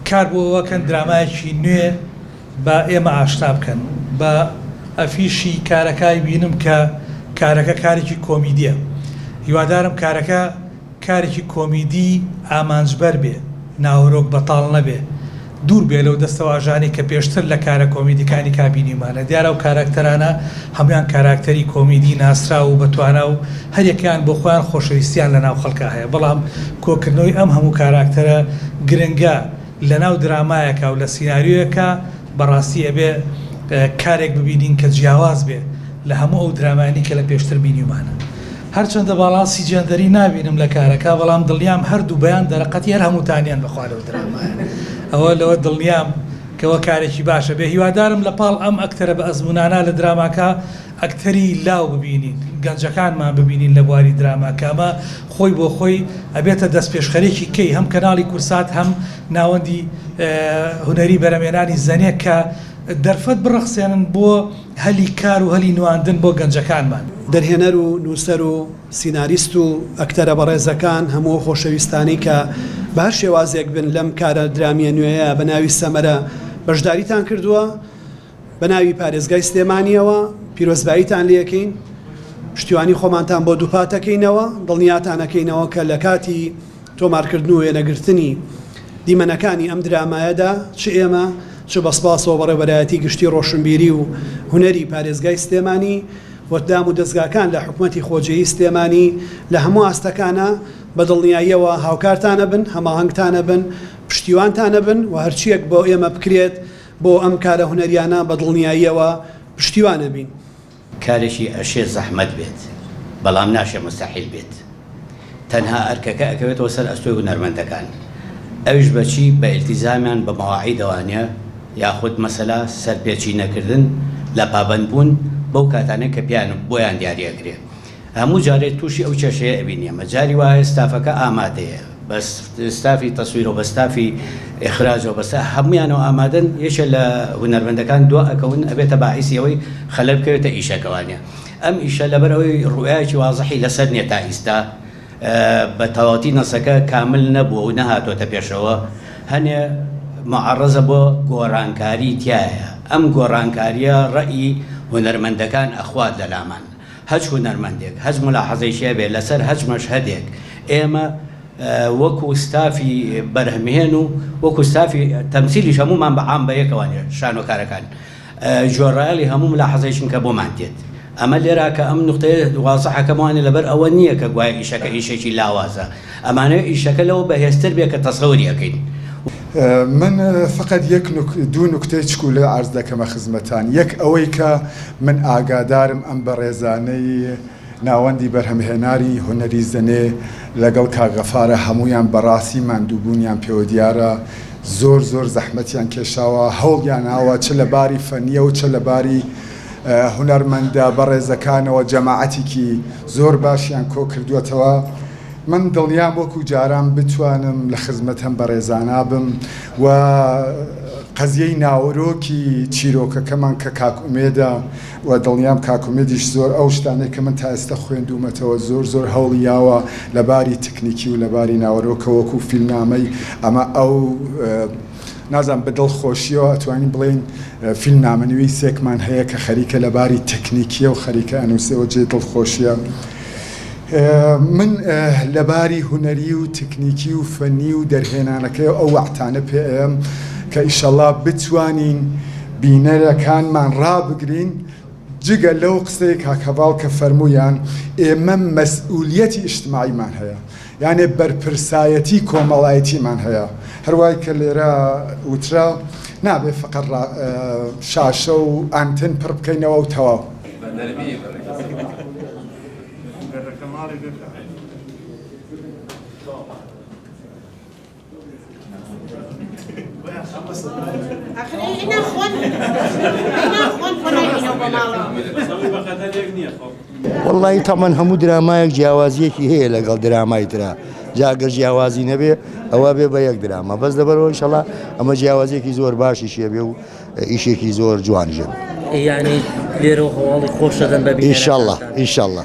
کار بۆ ئەوە کەن درامایەکی نوێ بە ئێمە ئاشنا بکەن بە ئەفیشی کارەکای بینم کە کارەکە کارێکی کۆمیدیە هیوادارم کارەکە کارێکی کۆمیدی ئامانجبەر بێ ناوەرۆک بەتاڵ نەبێ دوور بێ لەو دەستەواژانەی کە پێشتر لە کارە کۆمیدیکانی کا بینیومانە دیارە و کاراکتەرانە هەموان کاراکتەری کۆمیدی ناسراو و بەتوانا و هەریەکەیان بۆ خۆیان خۆشەویستییان لە ناو خەڵکا هەیە، بەڵام کۆکردنەوەی ئەم هەموو کاراکتەرە گرنگە لە ناو درامایەکا و لە سیناریۆیەکا بە ڕاستی ئەبێ کارێک ببینین کە جیاواز بێ لە هەموو ئەو درامایانی کە لە پێشتر بینیومان. هەرچەندە باڵانسی جێندەری نابینم لە کارەکا بەڵام دڵنیام هەر دوو بەیان دەرەقەتی هەر هەمووتانیان بە خوا لەو درامایە ئەوە لەوە دڵنیام کەوە کارێکی باشە بێ هیوادارم لە پاڵ ئەم ئەکتەرە بە ئەزموونانا لە دراماکا ئەکتەری لاو ببینین گەنجەکانمان ببینین لە بواری دراما کە ئەمە خۆی بۆ خۆی ئەبێتە دەستپێشخەرێکی کەی هەم کەناڵی کورسات هەم ناوەندی هونەری بەرەمێنانی زەنێ کە دەرفەت بڕەخسێنن بۆ هەلی کار و هەلی نواندن بۆ گەنجەکانمان. دەرهێنەر و نووسەر و سیناریست و ئەکتەرە بەڕێزەکان هەموو ئەو خۆشەویستانەی کە بە هەر شێوازێک بن لەم کارە درامییە نوێیە بە ناوی سەمەرە بەشداریتان کردووە، بەناوی پارێزگای سلێمانیەوە پیرۆزباییتان لێکەین پشتیوانی خۆمانتان بۆ دووپاتەکەینەوە دڵنیاتانەکەینەوە کە لە کاتی تۆمارکردن و وێنەگرتنی دیمەنەکانی ئەم درامایەدا چ ئێمە چ بەسپاسەوە بەڕێبەرایەتی گشتی ڕۆشنبیری و هونەری پارێزگای سلێمانی وەدام و دەستگاکان لە حکومەتی خۆجێی سلێمانی لە هەموو ئاستەکانە بە دڵنیاییەوە هاوکارتانە بن هەماهنگتانە بن پشتیوانتانە بن و هەرچیەک بۆ ئێمە بکرێت بۆ ئەم کارە هونەریانە بە دڵنیاییەوە پشتیوان ئەبین. کارێکی ئەشێ زەحمەت بێت بەڵام ناشێ موستەحیل بێت. تەنها ئەرکەکە ئەکەوێتەوە سەر ئەستۆی هونەرمەندەکان ئەویش بە چی؟ بە ئیلتیزامیان بە مەواعیدەوانە یاخود مەسەلا سەرپێچی نەکردن لە پابەندبوون بەو کاتانەی کە پێیان بۆیان دیاری ئەکرێ هەموو جارێ توشی ئەو کێشەیە ئەبین ئێمە جاری وایە ستافەکە ئامادەیە بە ستافی تەسویرو بە ستافی ئیخراجەوە بە ستا هەموویانەوە ئامادەن یەکێ لە هونەرمەندەکان دوا ئەکەون ئەبێتە باعیسی ئەوەی خەلەل بکەوێتە ئیشەکە وانە ئەم ئیشە لەبەر ئەوەی روئایەکی وازحی لەسەر نیە تا ئیستا بە تەواوەتی نەسەکە کامل نەبووە و نەهاتۆتە پێشەوە هەنێ معەڕەزە بۆ گۆرانکاری تیایە ئەم گۆرانکاریە ڕەئی هونەرمەندەکان ئەخوات لەلامان هەچ هونەرمەندێک هەچ مولاحەزەیەکی هەبێت لەسەر هەچ مەشهەدێک ئێمە وەکو ستافی بەرهەمهێن و وەکو ستافی تەمسیلیش هەموومان بە عام بەیەکەوە شانۆکارەکان جۆرایەڵی هەموو ملاحەزەیەکن کە بۆمان دێت ئەمە لێرا کە ئەم نوختەیە وازحەکەمانێ لەبەر ئەوە نییە کە گوایە ئیشەکە ئیشێکی لاوازە ئەمانەوێ ئیشەکە لەوە بەهێزتر بێ کە تەسەوری ئەکەین. من فەقەت یەک دوو نوکتەی چکولە عەرز دەکەمە خزمەتان، یەک ئەوەی کە من ئاگادارم ئەم بەڕێزانەی ناوەندی بەرهەمهێناری هونەری زەنێ لەگەڵ کاک غەفارە هەموویان بەڕاستی ماندووبوونیان پێوە دیارە زۆر زۆر زەحمەتیان کێشاوە هەوڵیان ناوە چ لە باری فەنیەو چ لە باری هونەرمەندە بەڕێزەکانەوە جەماعەتیکی زۆر باشیان کۆ کردووەتەوە من دڵنیام وەکو جاران بتوانم لە خزمەت هەم بەڕێزانا بم و قەزیەی ناوەرۆکی چیرۆکەکەمان کە کاکومێدە و دڵنیام کاکومێدیش زۆر ئەو شتانێک کە من تا ئێستا خوێندومەتەوە زۆر زۆر هەوڵی یاوە لە باری تکنیکی و لە باری ناوەرۆکە وەکو فیلمنامەی ئەمە ئەو نازانم بە دڵخۆشیەوە ئەتوانین بڵێین فیلمنامەنویسێکمان هەیە کە خەریکە لە باری تەکنیکیە و خەریکە ئەنووسێ و جێ دڵخۆشیە من لە باری هونەری و تەکنیکی و فەنی و دەرهێنانەکەی ئەو وەعتانە پێم کە ئیشەڵا بتوانین بینەرەکانمان ڕابگرین جگە لەو قسەی کاکەڤاڵ کە فەرموویان ئێمە مەسئولیەتی ئیشتماعیمان هەیە یانێ بەرپرسایەتی کۆمەڵایەتیمان هەیە، هەروای کە لێرە وترا نابێ فەقەت شاشە و ئانتن پڕ بکەینەوە و تەواو. وەڵی تەمەەن هەموو درامایەک جیاوازیەکی هەیە لەگەڵ درامای تررا جاگە جیاوازی نەبێ ئەوە بێ بە یەک دراما بەس لەبەرەوە شەڵا ئەمە جیاوازیەکی زۆر باشی شێبێ و ئیشێکی زۆر جوان ژێ یعنی لێرە هەواڵی خۆشەدەن بە ئیشله ئیشله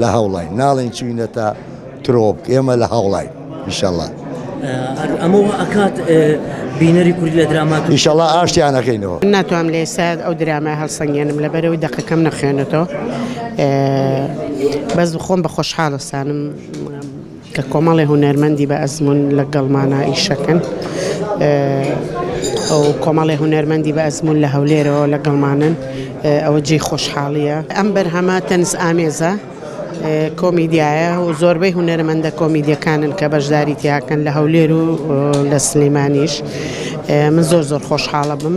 لە هەوڵاین ناڵێن چوینە تا ترۆپ ئێمە لە هەوڵاین ئیشەڵا ئەمەوە ئەکات بینەری کوردی لە درامات ئیشەڵا ئاشتیانەکەینەوە ناتوانم لە ئێساد ئەو درامای هەڵسەنگێنم لە بەرەوەی دەقەکەم نەخوێنێتەوە بەس خۆم بە خۆشحاڵستانم کە کۆمەڵێ هونەرمەندی بە ئەزموون لە گەڵمانا ئیشەکەن ئەو کۆمەڵێ هونەرمەندی بە ئەزمون لە هەولێرەوە لە گەڵمانن ئەوە جێ خۆشحاڵیە ئەم بەرهەمە تەنس ئامێزە کۆمیدیایە و زۆربەی هونەرمەندە کۆمیدیەکانن کە بەشداری تیاکەن لە هەولێر و لە سلەیمانیش من زۆر زۆر خۆشحاڵە بم